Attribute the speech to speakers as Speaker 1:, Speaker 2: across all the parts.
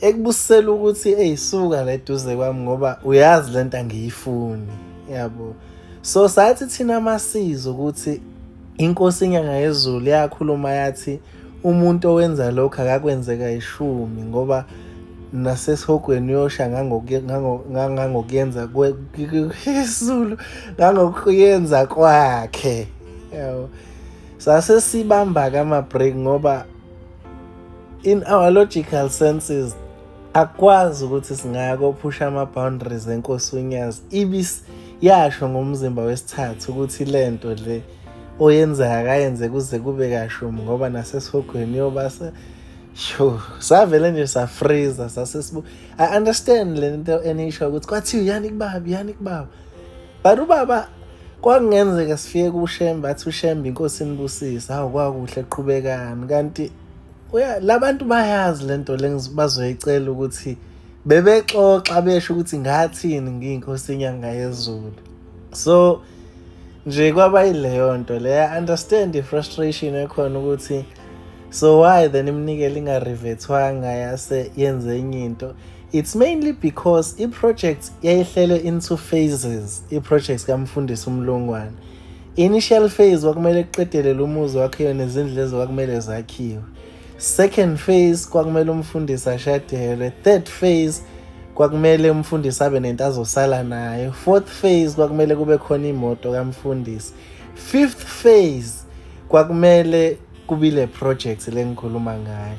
Speaker 1: ekubusisela ukuthi eyisuka la eduze kwami ngoba uyazi le nto angiyifuni yabo so sathi thina amasizi ukuthi inkosi inyanga yezulu yakhuluma yathi umuntu owenza lokho akakwenzeka ishumi ngoba nasesihogweni uyosha ngangokuyenza kwezulu ngangokuyenza kwakhe yabo sase sibamba-ke ama-break ngoba in our logical senses akwazi ukuthi singako phusha ama boundaries enkosi unyazi ibis yasho ngomzimba wesithathu ukuthi lento le oyenzayo akayenze kuze kube kashumi ngoba nasesihogweni yobasa sho savele nje safreeza sasesibu i understand le nto enisho ukuthi kwathiwa yani kubaba yani kubaba but ubaba kwakungenzeka sifike kushembe athi ushembe inkosi inibusise hawu kwakuhle qhubekani kanti labantu bayazi lento lengibazoyicela ukuthi bebexoxa besho ukuthi ngathini ngiyinkosi inyanga yezulu so nje kwaba yileyo nto le i understand i-frustration ekhona ukuthi so why then imnikele ingarivethwanga yase yenze enye into It's mainly because i-project yayihlelwe into phases, i-project kaMfundisi uMlungwane. Initial phase kwakumele kuqedele lo muzi wakhiwe nezindlu lezo kwakumele zakhiwe. Second phase kwakumele umfundisi ashadelwe. Third phase kwakumele umfundisi abe nento azosala nayo. Fourth phase kwakumele kube khona imoto kamfundisi. Fifth phase kwakumele kubile project lengikhuluma ngayo.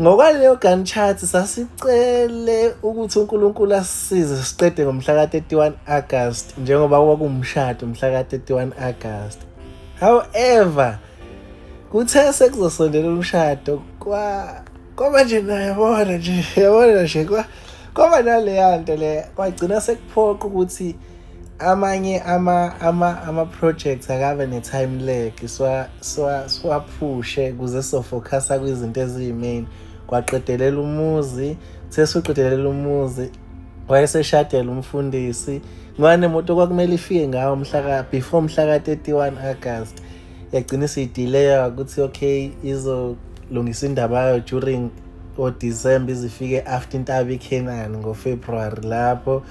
Speaker 1: Ngokwaleyo Gantt chart sasicele ukuthi uNkulunkulu asisize siqede ngomhla ka-31 August njengoba kwakuwumshado mhla ka-31 August. However, kuthe sekuzosondela umshado kwa kwaba nje nayabona nje yabona nje kwa kwaba naleya nto le kwagcina sekuphoqa ukuthi amanye ama ama ama projects akabe ne time lag swa swa swaphushe kuze so focus kwizinto eziyimain kwaqedelela umuzi sesuqedelela umuzi wayeseshadela umfundisi ngwane moto kwakumele ifike ngawo mhlaka before mhlaka 31 August yagcina isiyidelaya ukuthi okay izolungisa indaba yayo during o December izifike after intaba iKenani ngo February lapho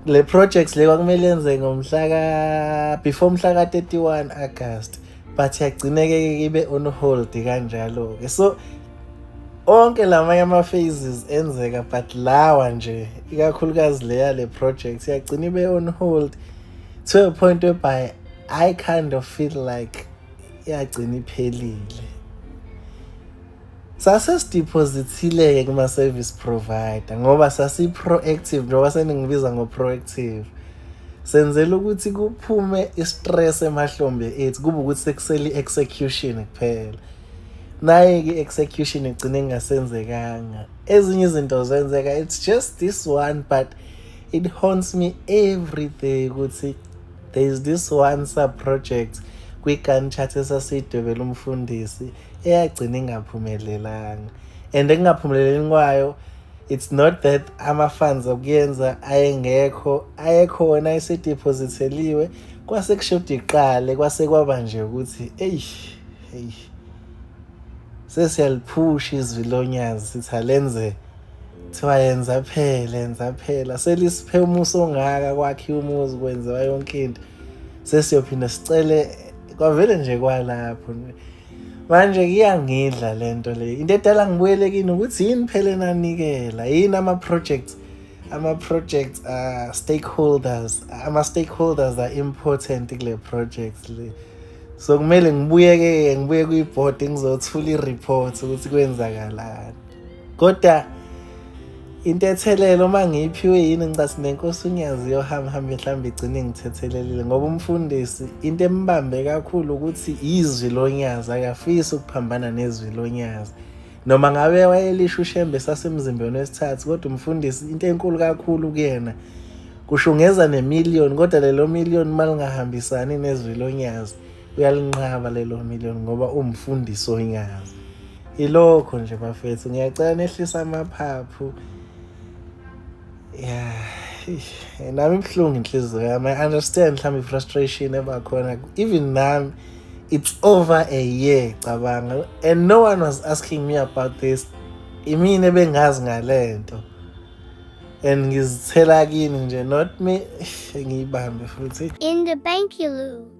Speaker 1: le project le kwakumele yenze ngomhla ka before umhla ka 31 August but yagcineke ibe on hold kanjalo ke so onke lamanye ama phases enzeka but lawa nje ikakhulukazi leya le project yagcina ibe on hold to a point whereby i kind of feel like yagcina iphelile Sase sideposithile-ke kuma-service provider ngoba sasi-proactive njengoba seningibiza ngo-proactive senzela ukuthi kuphume i-stress emahlombe ethu kube ukuthi sekusele i-execution kuphela naye-ke i-execution igcine ingasenzekanga ezinye izinto zenzeka it's just this one but it haunts me every day ukuthi there is this one sub project kwi-gun chat esasidwebela umfundisi eyagcina ingaphumelelanga and ekungaphumeleleni kwayo it's not that ama-funds okuyenza ayengekho ayekhona esedephozitheliwe kwase kushoda iqale kwase kwaba nje ukuthi eyi eyi sesiyaliphusha izwi lonyazi sithi alenze kuthiwa yenza phela yenza phela selisiphe umusa ongaka kwakhiwa umuzi kwenziwa yonke into sesiyophinda sicele kwavele nje kwalapho manje kuyangidla le nto le into edala ngibuyele kini ukuthi yini phela enanikela yini ama-projects ama-projects uh, stakeholders ama-stakeholders are important kule projects le so kumele ngibuyeke ngibuye kwi-board ngizothula i-report ukuthi kwenzakalani kodwa into ethelele uma ngiyiphiwe yini ngicasi nenkosi unyazi yohamba hambe mhlawumbe igcine ngithethelelile ngoba umfundisi into embambe kakhulu ukuthi izwi lonyazi akafisi ukuphambana nezwi lonyazi noma ngabe wayelisho ushembe sasemzimbeni wesithathu kodwa umfundisi into enkulu kakhulu kuyena kushungeza nemillion kodwa lelo million malingahambisani nezwi lonyazi uyalinqaba lelo million ngoba umfundisi onyazi ilokho nje bafethu ngiyacela nehlisa amaphaphu ya nami ibuhlungu inhliziyo yami i understand mhlawumbe i-frustration ebakhona even nami it's over a year cabanga and no one was asking me about this imina ebengazi ngale nto and ngizithela kini nje not me
Speaker 2: ngiyibambe futhi
Speaker 1: in the
Speaker 2: bank you
Speaker 1: lose